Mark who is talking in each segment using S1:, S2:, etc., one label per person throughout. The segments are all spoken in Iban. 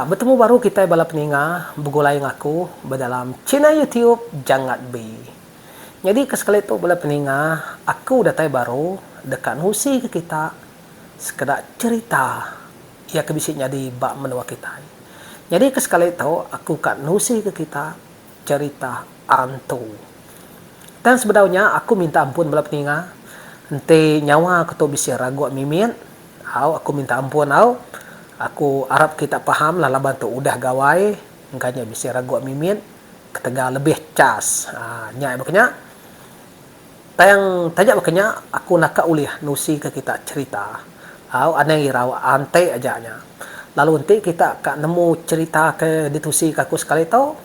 S1: Betemu baru kitai bala peninga begulai ngaku ba dalam channel YouTube Jangat Be. Nyadi ke sekali tu bala peninga aku datai baru deka nusi ke kita sekeda cherita iya ke bisi nyadi ba menua kitai. Nyadi ke sekali tu aku ka nusi ke kita cherita antu. Tang sebedau nya aku minta ampun bala peninga enti nyawa aku tu bisi ragup mimit Au aku minta ampun au. Aku arap kita paham lah laban tu udah gawai engka nya bisi ragup mimit ketegal lebih chas nya ai bakanya. Tang taja bakanya aku naka ulih nusi ka kita cherita au anang irau anti aja nya. Lalu enti kita ka nemu cherita ke ditusi ka aku sekali tu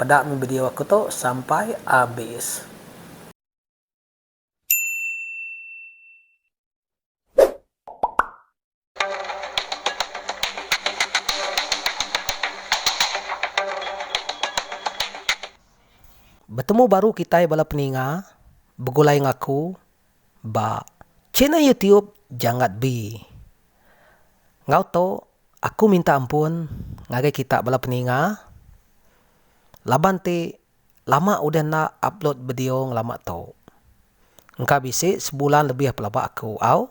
S1: peda meh video aku tu sampai abis. Betemu baru kitai bala peninga begulai ngaku ba channel YouTube Jangat Bee. Enggau tu aku minta ampun ngagai kita bala peninga laban ti Lama udah enda upload bedio ngelama tu. Engka bisi sebulan lebih pelaba aku au.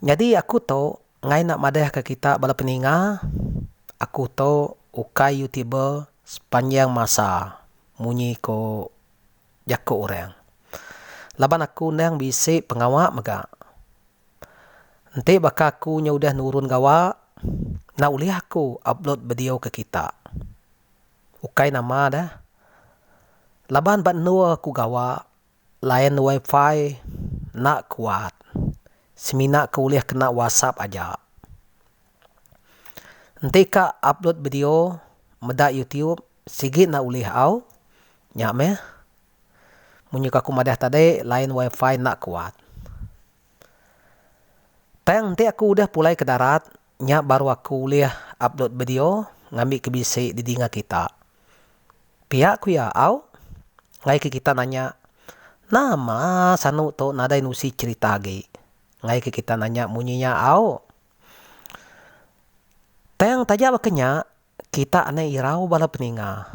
S1: Nyadi aku tu ngai enda madah ke kita bala peninga aku tu ukai youtuber sepanjang masa munyi ko jako orang. Laban aku endang bisi pengawa mega. Enti baka aku nya udah nurun gawa, enda ulih aku upload bedio ke kita. Ukai nama dah. Laban ba endur aku gawa, line WiFi enda kuat. Semina ke ulih kena WhatsApp aja. Enti ka upload bedio meda YouTube sigi enda ulih au. Nya meh. Munyi ke aku madah tadi line wifi enda kuat. Tang enti aku udah pulai ke darat nya baru aku ulih upload video ngambi ke bisi di dinga kita. Pia ku iya au ngaika kita nanya nama sanu tu nadai nusi cherita agi ngaika kita nanya munyi nya au. Tang taja baka nya Kita anai irau bala peninga.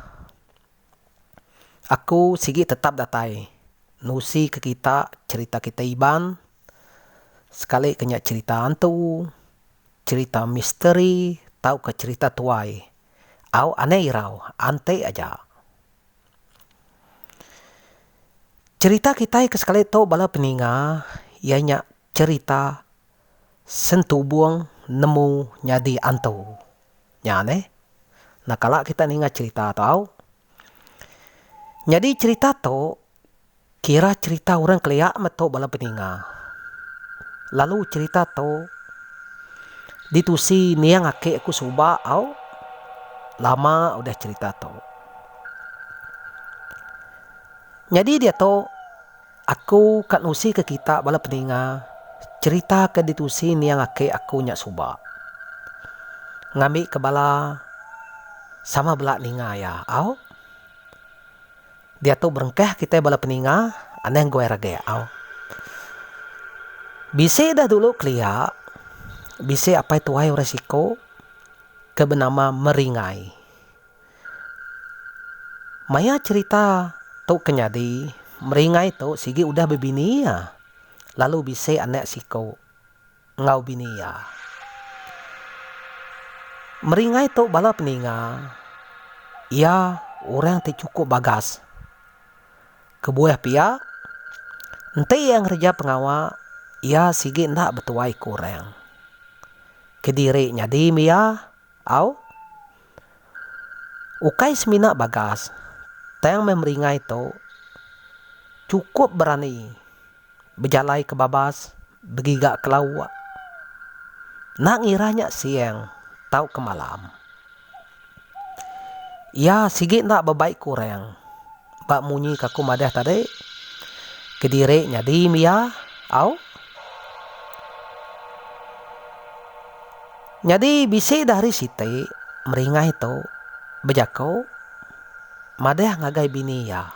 S1: Aku sigi tetap datai nusi ke kita cerita kitai Iban sekali ke nya cerita hantu, cerita misteri tauka cerita tuai. Au anai irau anti aja. Cerita kitai ke sekali tu bala peninga iya nya cerita sentubong nemu nyadi hantu. Nya neh. Enda kala kita ninga cherita tau. Nyadi cherita tu kira cherita orang kelia meto bala peninga. Lalu cherita tu ditusi niang ake aku suba au lama udah cherita tu. Nyadi diatu. Aku ka nusi ke kita bala peninga cerita ke ditusi niang aki aku nya suba. Ngambi ke bala sama bela ninga iya au. Diatu berengkah kitai bala peninga anang guai rageh au. Bisi dah dulu kelia bisi apai tuai orang siko ke benama Meringai. Maya cherita tu ke nyadi, Meringai tu sigi udah bebini iya, lalu bisi anak siku enggau bini iya. Meringai tu bala peninga iya orang ti chukup bagas. Kebuah pia, enti iya ngereja pengawa, iya sigi enda betuai ke orang. Kediri nyadi mih iya au? Ukai semina bagas, tang meh meringai tu chukup berani bejalai ke babas begiga ke lauk. Enda ngira nya siang tauka malam. Iya sigi enda bebai ke orang. Ba munyi ke aku madah tadi, kediri nyadi mia au. Nyadi bisi dah hari siti meringai tu bejaku madah ngagai bini iya.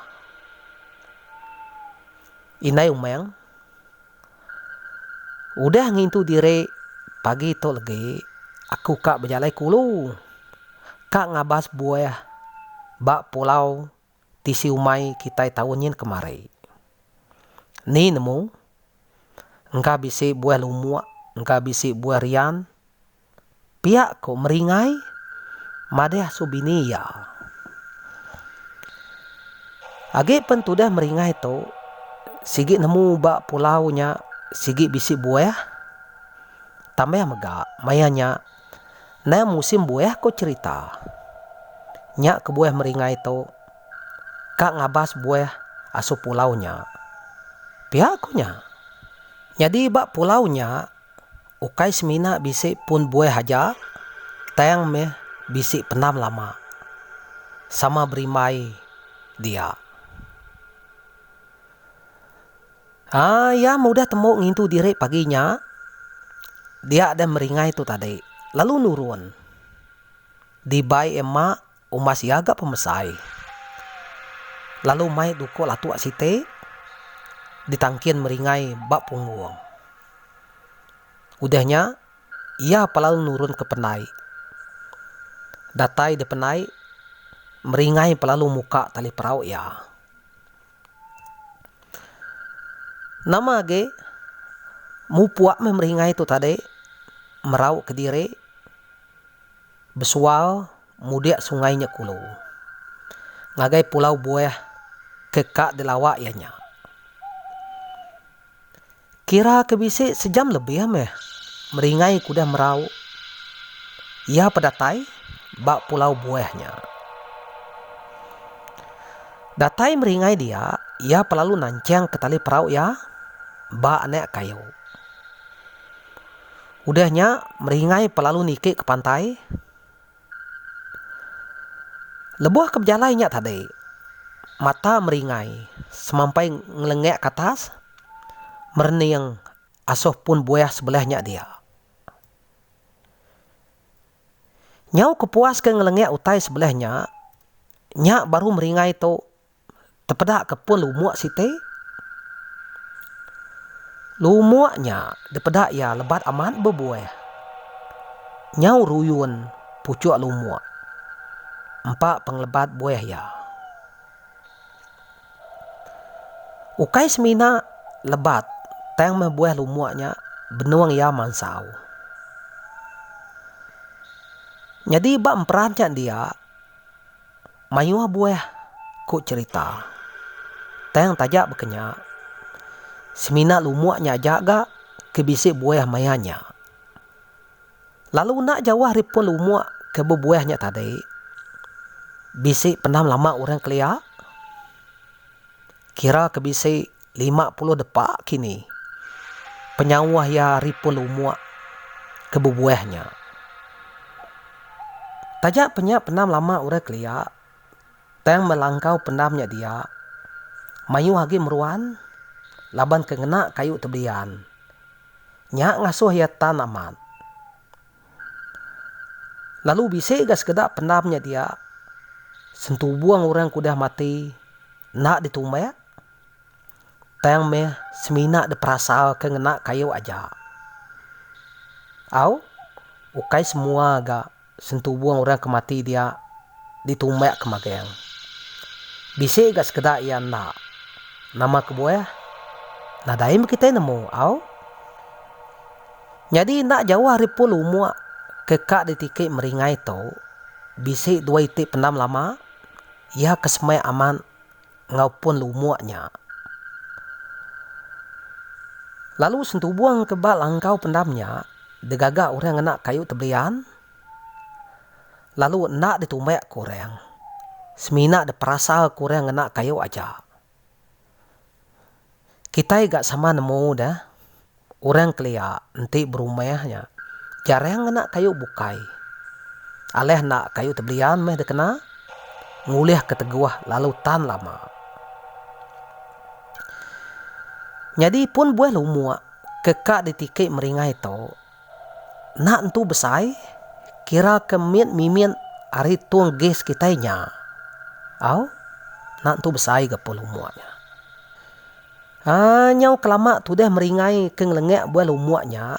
S1: Indai Umang. Udah ngintu diri pagi tu legi aku ka bejalai ke ulu ka ngabas buah ba pulau ti siumai kitai taun nyin kemari. Ni nemu, engka bisi buah lumuk, engka bisi buah rian, Pia ko Meringai madah su bini iya. Agi pen tudah Meringai tu sigi nemu ba pulau nya sigi bisi buah tambah mega maya nya nang musim buah ko cherita. Nya kebuah Meringai tu ka ngabas buah asu pulau nya. Pia ko nya. Nyadi ba pulau nya. Ukai semina bisi pun buah aja tang meh bisi penam lama, sama berimbai dia. Haa iya meudah tembu ngintu diri pagi nya dia deh meringai tu tadi lalu nurun. Dibai emma Umbas iya ga pemesai lalu mai duko latuk siti ditangkin meringai ba punggung. Udah nya iya pa lalu nurun ke penai. Datai di penai meringai pa lalu muka tali perau iya. Nama agi mupuk meh meringai tu tadi merau kediri besual. Mudik sungai nya kulu. Ngagai pulau buah ke ka dilawa iya nya. Kira ke bisi sejam lebih meh meringai ke udah merau iya pedatai ba pulau buah nya. Datai meringai dia iya pelalu nanchang ke tali perau iya ba anak kayu. Udah nya meringai pelalu niki ke pantai. Lebuh ke bejalai nya tadi, mata meringai semampai ngelengak ke atas merening asoh pun buah sebelah nya dia. Nyau kepuas ke ngelengak utai sebelah nya, nya baru meringai tu. tepeda ke pun lumuk siti. Lumuk nya dipeda iya lebat amat bebuah. Nyau ruyun puchuk lumuk. Empa pengelebat buah iya. Ukai semina lebat tang meh buah lumuk nya benung iya mansau. Nyadi ba emperan nya dia. Mayuh buah ku cherita. Tang taja baka nya, semina lumuk nya aja ga ke bisi buah maya nya. Lalu enda jauh ari pun lumuk ke bebuah nya tadi, bisi penam lama orang kelia, kira ke bisi lima puluh depa kini, penyauh iya ari pun lumuk ke bebuah nya. Taja penya pendam lama orang kelia, tang melangkau pendam nya dia, mayuh agi meruan laban ke ngena kayu tebelian. Nya ngasuh iya tan amat. Lalu bisi ga sekeda pendam nya dia, sentubung orang ke udah mati enda ditumbak. Tang meh semina diperasaka ngena kayu aja. Au, ukai semua ga sentubung orang ke mati dia ditumbak ke magang. Bisi ga sekeda iya enda. Nama kebuah? Nadai meh kitai nemu, au. Nyadi enda jauh ari pun lumuk ke ka ditiki meringai tu, bisi dua iti pendam lama, iya ke semak amat. enggau pun lumuk nya. Lalu sentubung ke ba langkau pendam nya digaga orang ngena kayu tebelian lalu enda ditumbakka orang semina diperasaka orang ngena kayu aja. Kitai ga sama nemu deh orang kelia enti berumah nya jarang ngena kayu bukai. Alah enda kayu tebelian meh dikena ngulihka teguh lalu tan lama. Nyadi pun buah lumuk ke ka ditiki meringai tu. Enda entu besai, kira ke mit mimit ari tung gas kitai nya. Au, enda entu besai ga pun lumuk nya. Haa, nyau kelama tudah meringai ke ngelengak buah lumuk nya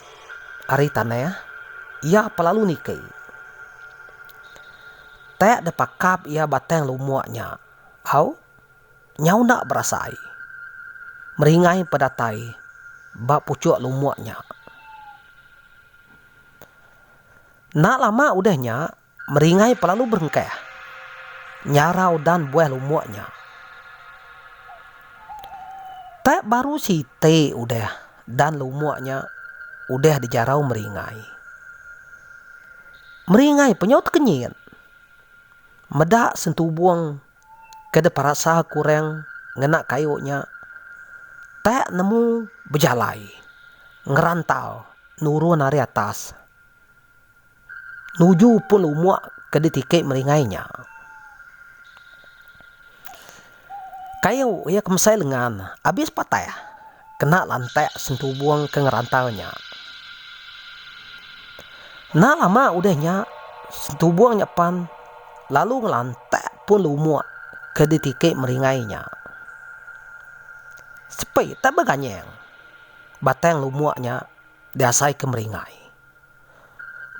S1: ari tanah, iya pa lalu niki. Tak depakap iya batang lumuk nya. Au. Nyau enda berasai. Meringai empa datai ba puchuk lumuk nya. Enda lama udah nya, meringai empa lalu berengkah nyara udan buah lumuk nya. Tak baru siti udah, dan lumuk nya udah dijarau meringai. Meringai empa nyau tekenyit. Meda sentubung. ke diperasa kurang ngena kayu nya tak nemu bejalai ngerantau nurun ari atas nuju pun umuk ke ditiki meringai nya. Kayu iya kemesai lengan abis patah. kena lantak sentubung ke ngerantau nya. Enda lama udah nya, sentubung nya pan lalu ngelantak pun lumuk ke ditiki meringai nya. Sepi tak beganyang batang lumuk nya diasaika meringai.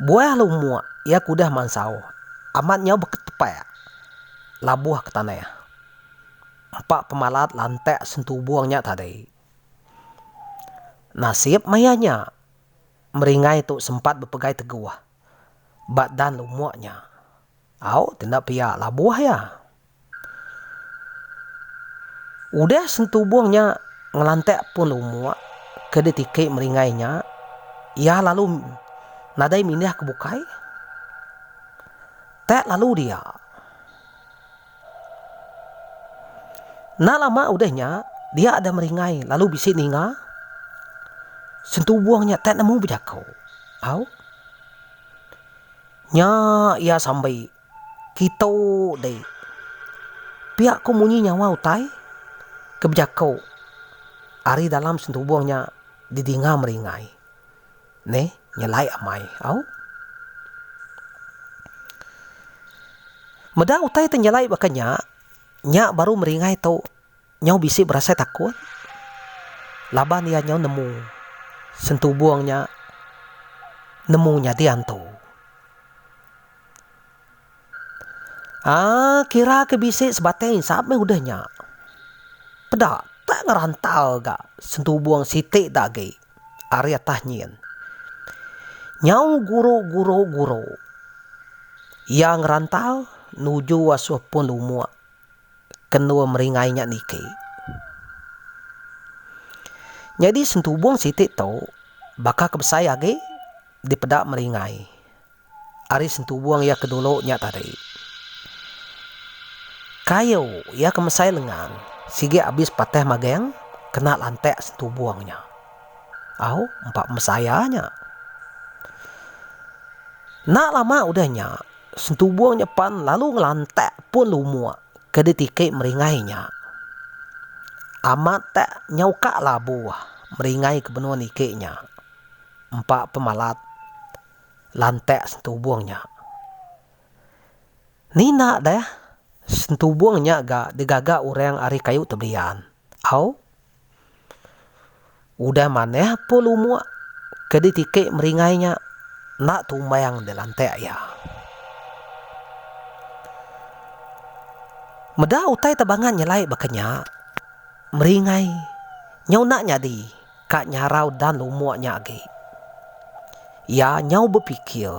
S1: Buah lumuk iya ke udah mansau amat nyau beketepak labuh ke tanah. Empa pemalat lantak sentubung nya tadi. Nasib maya nya, Meringai tu sempat bepegai teguh ba Dan Lumuk nya. Au, ti enda pia labuh iya. Udah sentubung nya ngelantak pun Lumuk ke ditiki Meringai nya, iya lalu nadai mindah ke bukai. Tak lalu dia. Enda lama udah nya, dia ada meringai lalu bisi ninga sentubung nya tak nemu bejaku. Au. Nya iya sambi kitu deh. Pia ku munyi nyawa utai ke bejaku ari dalam sentubung nya didinga meringai. Ne nyelai amai au. Meda utai te nyelai baka nya, nya baru meringai tu nyau bisi berasai takut laban iya nyau nemu sentubung nya nemu nyadi antu. Aa kira ke bisi sebatang insap meh udah nya. Peda tak ngerantal ga sentubung siti da agi. Ari atas nyin. Nyau guru guru guru. Iya ngerantau nuju asuh pun umuk kenur meringai nya niki. Nyadi sentubung siti tu baka ke besai agi dipeda meringai. Ari sentubung iya ke dulu nya tadi. Kayu iya ke mesai lengang sigi abis patah magang kena lantak sentubung nya. Au, empa pemesai iya nya. Enda lama udah nya, sentubung nya pan lalu ngelantak pun lumuk ke ditiki meringai nya. Amat tak nyau ka labuh meringai ke benung niki nya. Empa pemalat. lantak sentubung nya. Nina deh sentubung nya ga digaga orang ari kayu tebelian. Au. Udah manah pun lumuk ke ditiki meringai nya enda tumbang di lantak iya. Meda utai tebangan nyelai baka nya, meringai nyau enda nyadi. Ka nyarau Dan umuk nya agi. Iya nyau bepikir,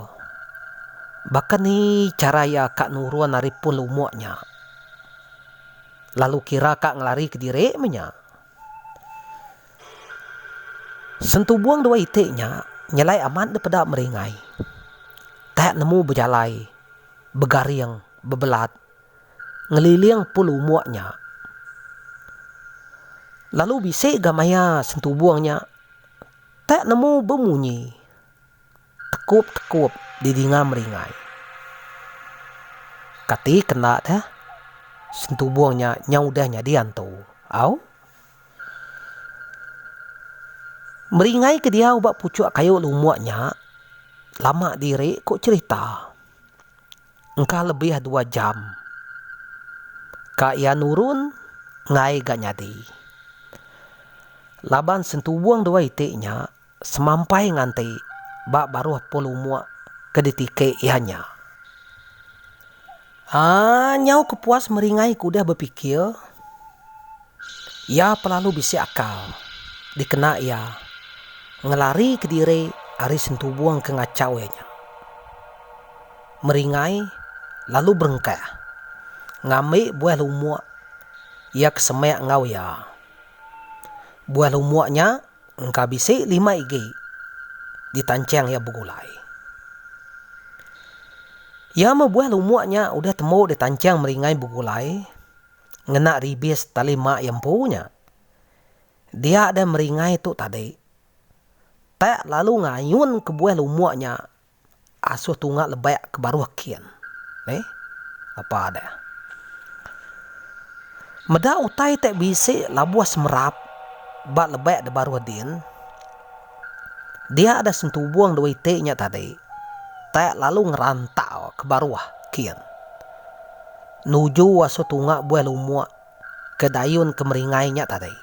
S1: baka ni chara iya ka nurun ari pul umuk nya. Lalu kira ka ngelari kediri menya. Sentubung dua iti nya nyelai amat dipeda meringai. Tak nemu bejalai, begaring, bebelat. ngeliling pun umuk nya. Lalu bisi ga maya sentubung nya tak nemu bemunyi tekup-tekup didinga meringai. Kati kena deh sentubung nya nyau udah nyadi antu. Au. Meringai ke diau ba pucuk kayu lumuk nya lama diri ku cerita. Engka lebih dua jam ka iya nurun ngai ga nyadi. Laban sentuwung dua iti nya semampai nganti ba baruh pul umuk ke ditike iya nya. Aaa nyau ke puas meringai ke udah bepikir, iya pelalu bisi akal dikena iya ngelarike diri ari sentuwung ke ngachau iya nya. meringai lalu berengkah ngambi buah lumuk iya ke semak enggau iya. Buah lumuk nya engka bisi lima igi ditanchang iya begulai. Iya meh buah lumuk nya udah tembu ditanchang meringai begulai ngena ribis tali mak iya empu nya. Dia deh meringai tu tadi tak lalu ngayun ke buah lumuk nya asuh tunga lebak ke baruh kin. Ni apa deh. Meda utai te bisi labuh semerap ba lebak de baruh din, dia deh sentubung dua iti nya tadi te lalu ngerantau ke baruh kin nuju asuh tunga buah lumuk. ke dayun ke meringai nya tadi.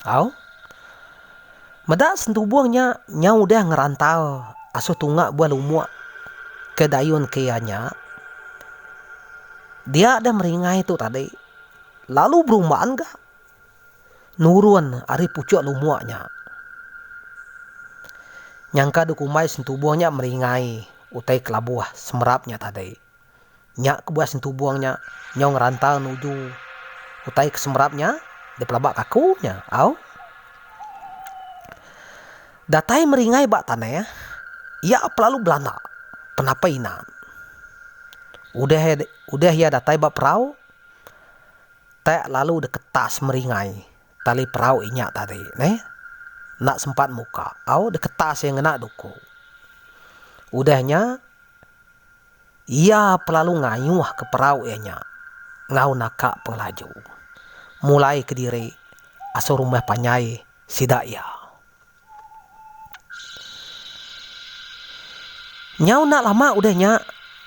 S1: Au. Meda sentubung nya nyau udah ngerantal asuh tunga buah lumuk ke dayun ke iya nya, dia deh meringai tu tadi lalu berumban ga nurun ari puchuk lumuk nya. Nyangka dikumbai sentubung nya meringai utai kelabuh semerap nya tadi. Nya kebuah sentubung nya nyong rantau nuju utai ke semerap nya deh pelaba kaku nya au. Datai meringai ba tanah iya pelalu belanda penapai inan. Udah udah iya datai ba perau tak lalu deh ketas meringai. Tali perau inya tadi neh enda sempat muka au deketas iya ngena duku. Udah nya iya pelalu ngayuhka perau iya nya enggau naka pengelaju mulai kediri asur rumah panjai sida iya. Nyau enda lama udah nya,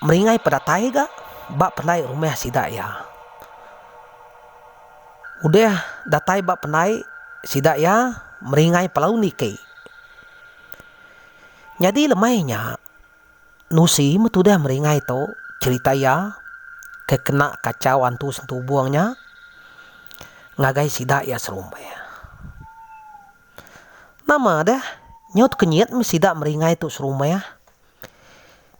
S1: Meringai pedatai ga ba pendai rumah sida iya. Udah datai ba pendai sida iya, Meringai pelalu niki. Nyadi lemai nya, Nusi meh tudah Meringai tu cherita iya ke kena kachau antu sentubung nya ngagai sida iya serumah. Nama deh, nyut kenyit mih sida meringai tu serumah.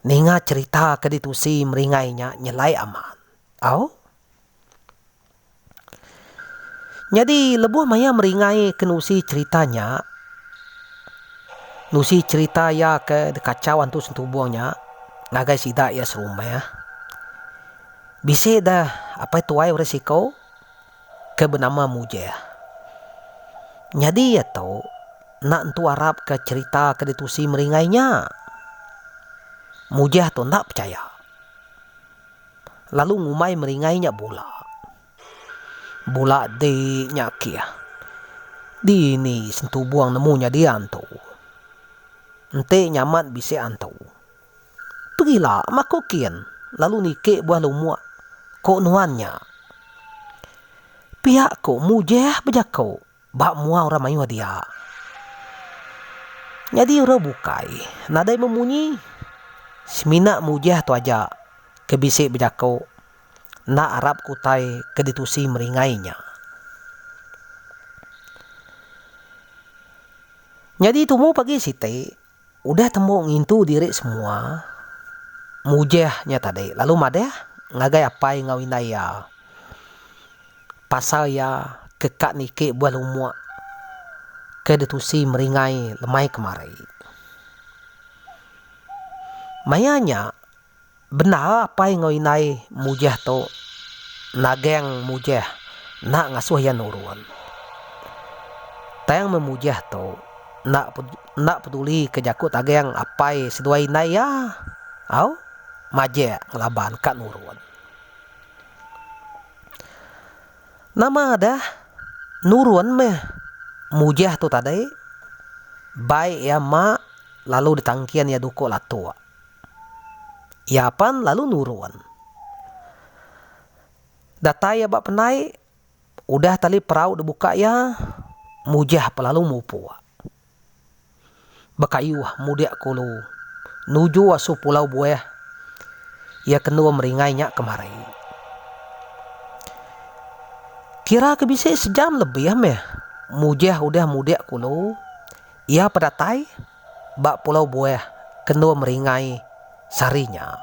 S1: Ninga cherita ke ditusi meringai nya nyelai amat. Au. Nyadi lebuh maya meringai ke nusi cherita nya, nusi cherita iya ke dikachau antu sentubung nya ngagai sida iya serumah. Bisi deh apai tuai orang siko. ke benama Mujah. Nyadi iya tu enda entu arapka cherita ke ditusi meringai nya. Mujah tu enda pechaya, lalu ngumbai meringai nya bula. Bula di nya kih. Dini sentubung nemu nyadi antu. Enti nya amat bisi antu. Pegila maku kin lalu niki buah lumuk, ku nuan nya. Pia ku Mujeh bejaku ba mua orang mayuh dia. Nyadi orang bukai nadai memunyi. Semina Mujeh tu aja ke bisi bejaku enda arap ke utai ke ditusi meringai nya. Nyadi tumu pagi siti. Udah tembu ngintu diri semua, Mujah nya tadi lalu madah ngagai apai enggau indai iya pasal iya ke ka niki buah lumuk ke ditusi meringai lemai kemari. Maya nya. Bendar apai enggau indai Mujah tu nagang Mujah enda ngasuh iya nurun. Tang meh Mujah tu enda enda pedulika jaku tagang apai seduai indai iya. Au majak ngelaban ka nurun. Nama dah nurun meh Mujah tu tadi bai iya mak lalu ditangkin iya duko latok. Iya apan lalu nurun. Datai iya ba penai, udah tali perau dibuka iya, Mujah pe lalu mupuk. Bekayuh mudik ke ulu nuju asu pulau Buah, iya kenu meringai nya kemari. Kira ke bisi sejam lebih meh Mujah udah mudik ke ulu, iya pe datai. Ba pulau buah kendur meringai sehari nya.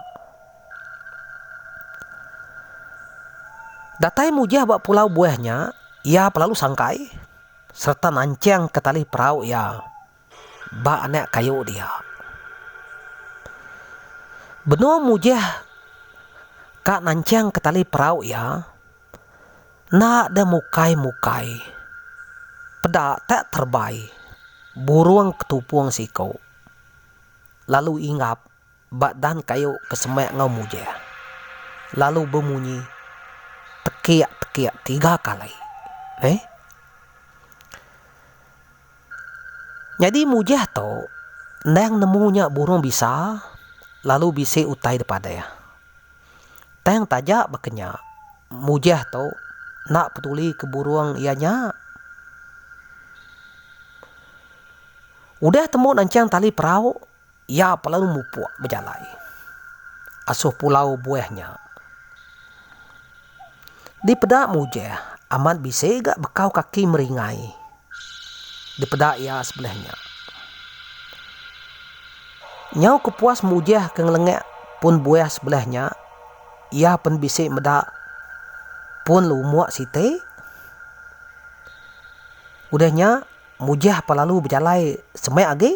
S1: Datai mujah ba pulau buah nya, iya belalu sangkai sereta nanchingka tali perau iya ba anak kayu dia. Benung mujah ka nanchingka tali perau iya, Enda deh mukai-mukai. Peda tak terbai. Burung ke tupung siku. Lalu inggap ba dan kayu ke semak enggau mujah. Lalu bemunyi tekik-tekik tiga kali. Neh. Nyadi mujah tu endang nemu nya burung bisa lalu bisi utai dipadah. Tang taja baka nya, mujah tu enda peduli ke burung iya nya. Udah temu nancang tali perau. Iya peleu mupuk bejalai asuh pulau buah nya. Dipeda Mujah amat bisi ga bekau kaki meringai dipeda iya sebelah nya. Nyau kepuas Mujah ke ngelengak pun buah sebelah nya, iya pen bisi meda pun lumuk siti. Udah nya, Mujah pelalu bejalai semak agi.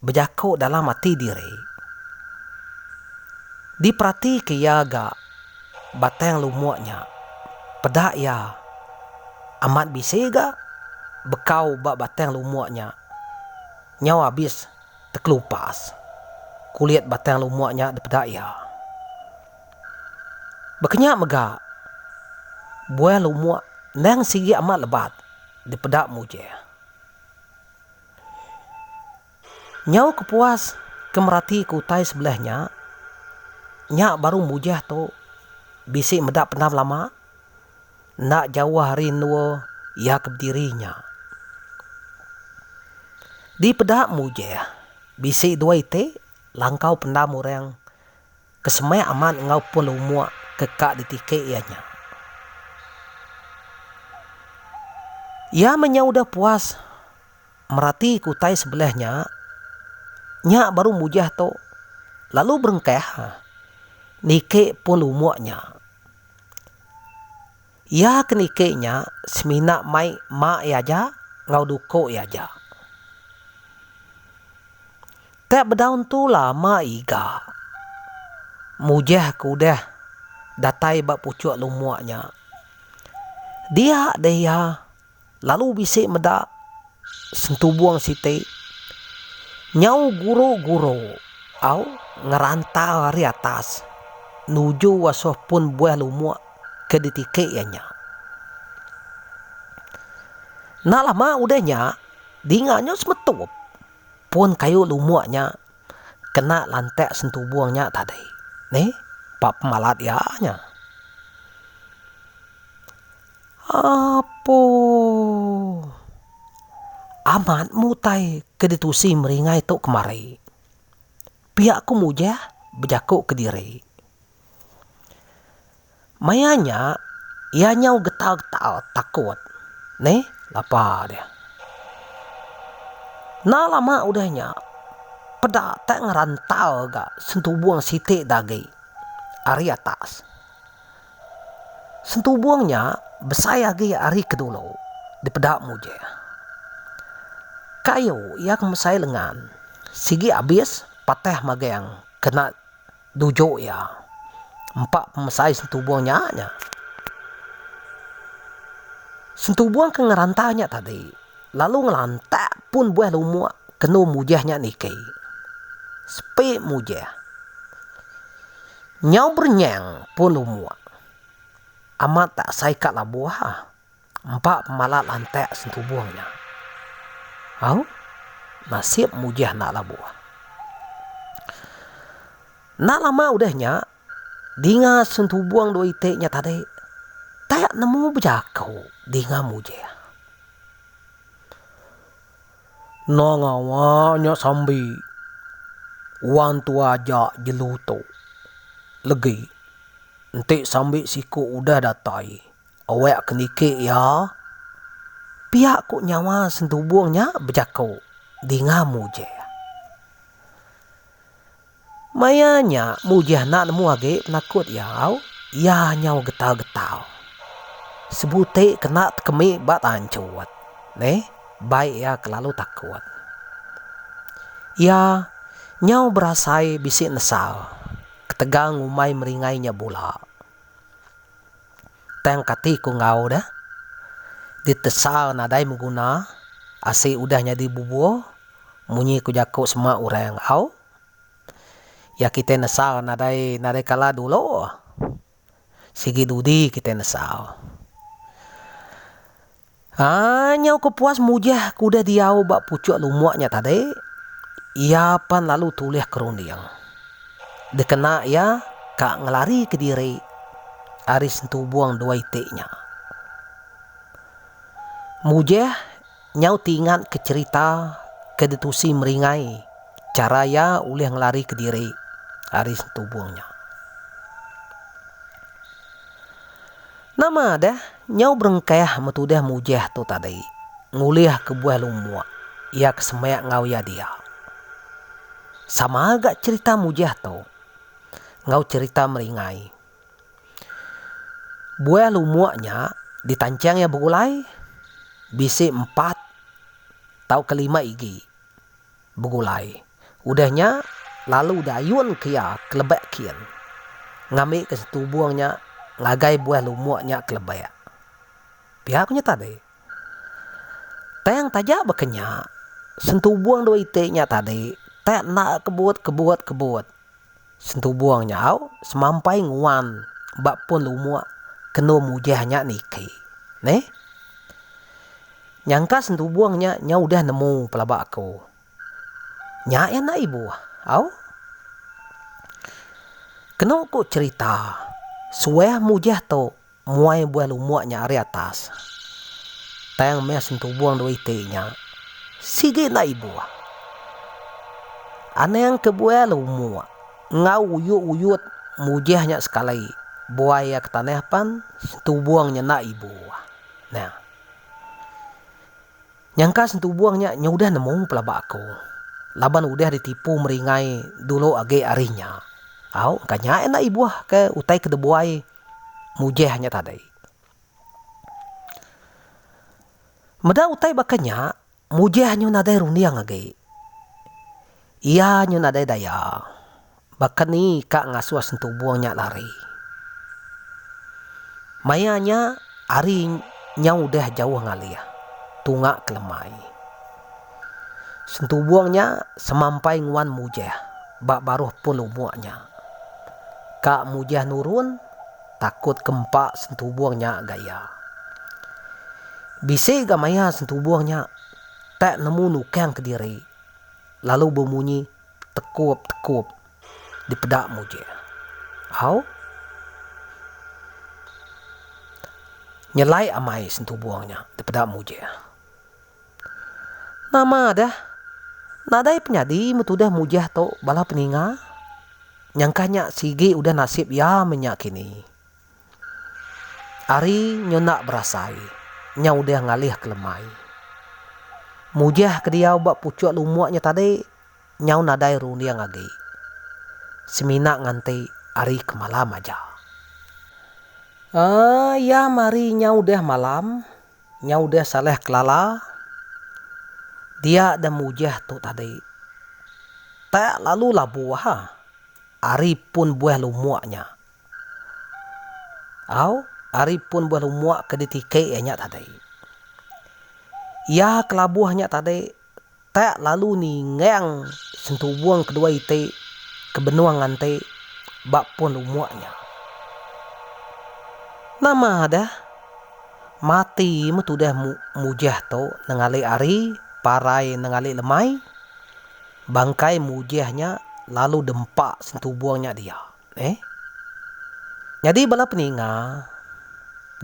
S1: bejaku dalam ati diri. Diperatika iya ga Batang Lumuk nya, peda iya amat bisi ga bekau ba Batang Lumuk nya nyau abis tekelupas kulit Batang Lumuk nya dipeda iya. Bakanya mega buah lumuk endang sigi amat lebat dipeda Mujih. Nyau ke puas ke meratika utai sebelah nya, nya baru mujah tu bisi meda pendam lama, enda jauh ari endur iya ke bediri nya. Dipeda mujah, bisi dua iti langkau pendam orang Ke semai amat enggau pul umuk ke ka ditiki iya nya. Iya menyau udah puas merati ke utai sebelah nya, nya baru mujah tu lalu berengkah niki pul umuk nya. Iya ke niki nya semina mai mak iya aja enggau duko iya aja. Teh bedau entu lama iga mujah ke udah datai ba puchok lumok nya. Dia deh iya. Lalu bisi meda sentubung siti nyau guru-guru au ngerantau ari atas nuju asoh pun buah lumuk ke ditiki iya nya. Enda lama udah nya dinga nyu semetup pun kayu lumuk nya kena lantak sentubung nya tadi. Neh ba pemalat iya nya. Apo. Amat mutai ke ditusi meringai tu kemari. Pia ku Mujah bejaku kediri. Maya nya iya nyau getal-getal takut. Neh lapa dia. Enda lama udah nya peda tak ngerantal ga sentubung siti agi ari atas. Sentubung nya besai agi ari ke dulu, dipeda Mujih. Kayu iya ke mesai lengan sigi abis patah magang kena dujuk iya. Empa pemesai sentubung nya nya. Sentubung ke ngerantau nya tadi. Lalu ngelantak pun buah lumuk kenu mujah nya niki. Sepi mujah. Nyau berenyang pun lumuk. Amat tak asai ka labuh ah. Empa pemala lantak sentubung nya. Au, nasib mujah enda labuh. Enda lama udah nya, Dinga sentubung dua iti nya tadi tak nemu bejaku dinga mujing. Enda ngawa nya sambi wan tua aja jelu tu. Legi enti sambi siku udah datai awak ke niki iya pia ku nyawa sentubung nya bejaku dinga mujing. Maya nya Mujah enda nemu agi penakut iya au, iya nyau getau-getau. Sebuti kena tekemi ba tanchut neh bai iya kelalu takut. Iya nyau berasai bisi nesal ketegal ngumbai meringai nya bula. Tang kati ku enggau deh, ditesal nadai beguna asi udah nyadi bubuh munyi ku jaku sema orang au. Iya kitai nesal nadai nadai kala dulu. Sigi dudi kitai nesal. Haa nyau ke puas mujah ke udah diau ba puchok lumok nya tadi, iya pan lalu tulih ke runding. Dikena iya ka ngelarika diri ari sentubong dua iti nya. Mujah. Nyau ti ingatka cherita ke ditusi Meringai chara iya ulih ngelarika diri ari sentubung nya. Nama deh nyau berengkah metudih mujih tu tadi ngulih kebuah lumuk iya ke semak enggau iya dia. Sama ga cherita mujih tu enggau cherita Meringai Buah lumuk nya ditanchang iya begulai bisi empat tauka lima igi begulai. Udah nya lalu diayunka iya ke lebak kin ngambika setubung nya ngagai buah lumuk nya ke lebak. Pia ku nya tadi. Tang taja baka nya, sentubung dua iti nya tadi tak enda kebut kebut kebut. Sentubung nya au semampai nguan ba pun lumuk ke endur mujah nya niki. Neh. Nyangka sentubung nya nyau udah nemu pelaba aku. Nya iya enda ibuh au. Kenu ku cerita suah mujah tu. Muai buai lumuk nya ari atas. Tang meh sentubung dua iti nya. Sigi enda ibuh. Anang ke buai lumuk enggau uyut-uyut mujih nya sekali buai iya ke tanah pan sentubung nya enda ibuh. Nah. Nyangka sentubung nya nyudah nemu pelaba aku laban udah ditipu meringai dulu agi ari nya. Au, engka nya enda ibuh ke utai ke dibuai. mujah nya tadi. Meda utai baka nya, mujah nyu nadai runding agi. Iya nyu nadai daya. Baka ni ka ngasuh sentubung nya lari. Maya nya, hari nyau udah jauh ngalih. Tunga kelemai. Sentubung nya semampai nguan Mujah ba baruh pun umuk nya. Ka Mujah nurun takut ke empa Sentubung nya ga iya. Bisi ga maya Sentubung nya tak nemu nukang kediri lalu bemunyi tekup tekup dipeda Mujah. Au. Nyelai amai Sentubung nya dipeda Mujah. Nama dah. Nadai penyadi meh tudah mujah tu bala peninga. Nyangkah nya sigi udah nasib iya meh nya kini. Ari nyu enda berasai, nya udah ngalihka lemai. Mujah ke diau ba puchuk lumuk nya tadi nyau nadai runding agi. Semina nganti ari ke malam aja. Aa iya meh ari nyau udah malam. Nyau deh salah kelala. Dia deh mujah tu tadi. Tak lalu labu aha. Ari pun buah lumuk nya. Au, ari pun buah lumuk ke ditiki iya nya tadi. Iya kelabuh nya tadi. Tak lalu ningang sentubung kedua iti ke benung nganti ba pun lumuk nya. Nama deh mati meh tudah Mujah tu nengalik ari parai nengalik lemai. Bangkai Mujah nya lalu dempa sentubung nya dia. Eeh. Nyadi bala peninga,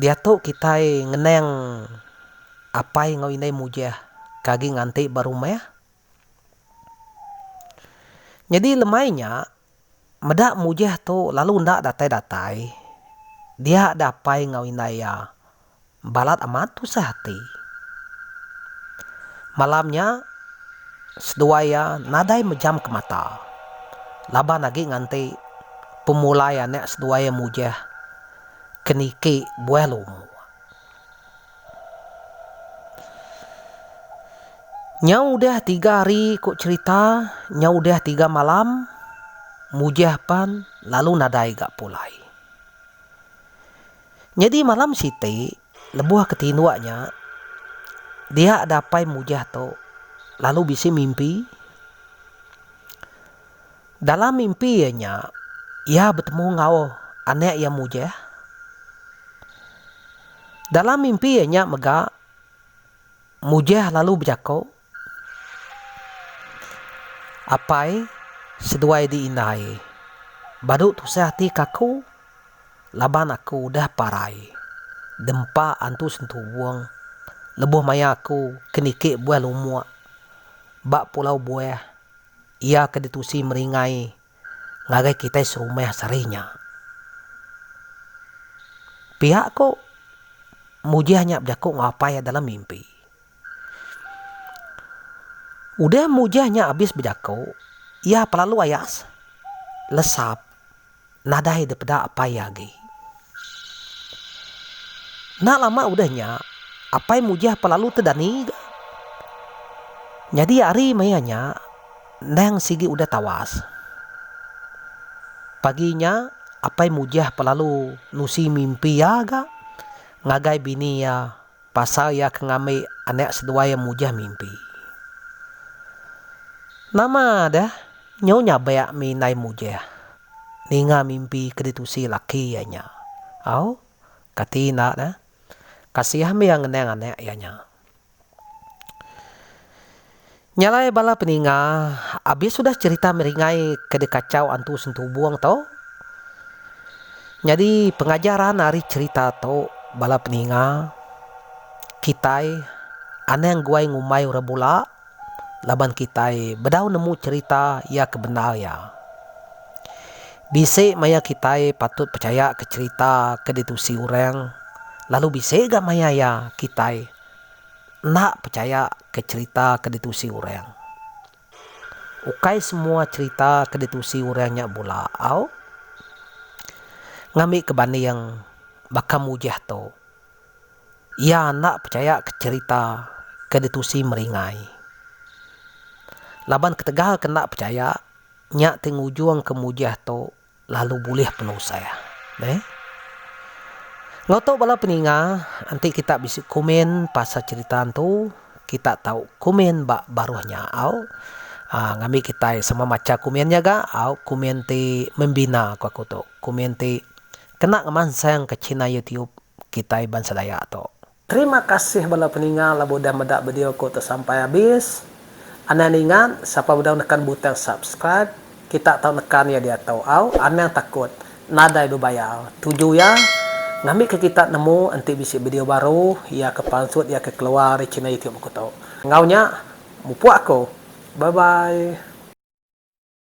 S1: diatu kitai ngenang apai enggau indai Mujah ke agi nganti ba rumah. Nyadi lemai nya, meda Mujah tu lalu enda datai-datai, dia da apai enggau indai iya. balat amat tusah ati. Malam nya, seduai iya nadai mejamka mata laban agi nganti pemulai anak seduai iya mujah ke niki buah lumur. Nyau udah tiga hari ku cherita, nyau udah tiga malam, mujah pan lalu nadai ga pulai. Nyadi malam siti, lebuh ke tinduk nya, dia dapai mujah tu lalu bisi mimpi. Dalam mimpi iya nya, iya betemu enggau anak iya mujah. Dalam mimpi iya nya mega, mujah lalu bejaku. Apai seduai di indai. Badu tusah ati ka aku laban aku udah parai dempa antu sentuwong lebuh maya aku ke niki buah lumuk ba pulau buah iya ke ditusi meringai ngagai kitai serumah sehari nya. Pia ku mujih nya bejaku enggau apai iya dalam mimpi. Udah mujah nya abis bejaku, iya pelalu ayas, lesap, nadai dipeda apai iya agi. Enda lama udah nya, apai mujah pelalu te dani ga. Nyadi ari maya nya, endang sigi udah tawas. Pagi nya, apai mujah pelalu nusi mimpi iya ga ngagai bini iya. Pasal iya ke ngambi anak seduai iya mujah mimpi. Nama deh nyu nyabak mih indai mujah ninga mimpi ke ditusi laki iya nya. Au, kati enda deh. Kasihan mih iya ngenang anak iya nya. Nya alai bala peninga abis udah cherita meringai ke dikachau antu sentubung tu. Nyadi pengajaran ari cherita tu bala peninga kitai anang guai ngumbai orang bula laban kitai bedau nemu cherita iya ke bendar iya. Bisi maya kitai patut pechaya ke cherita ke ditusi orang lalu bisi ga maya iya kitai. Enda pechaya ke cherita ke ditusi orang. Ukai semua cherita ke ditusi orang nya bula au. Ngambi ke banding baka Mujah tu, iya enda pechaya ke cherita ke ditusi meringai. Laban ketegal ke enda pechaya, nya ti ngujungka Mujah tu lalu bulih penusah. Meh. Enggau tu bala peninga, enti kita bisi komen pasal cherita entu, kita tau komen ba baruh nya au uhh ngambi kitai sama macha komen nya ga au komen ti membina ku aku tu. Komen ti kena ngemansangka china youtube kitai bansa dayak tu. Terima kasih bala peninga laban udah meda video ku tu sampai abis. Anang ningat sapa bedau nekan butang subscribe kita tau nekan iya diatu au anang takut nadai bebayar tuju iya ngambi ke kita nemu enti bisi video baru iya ke pansut iya ke keluar ari channel youtube aku tu enggau nya mupuk aku bye bye.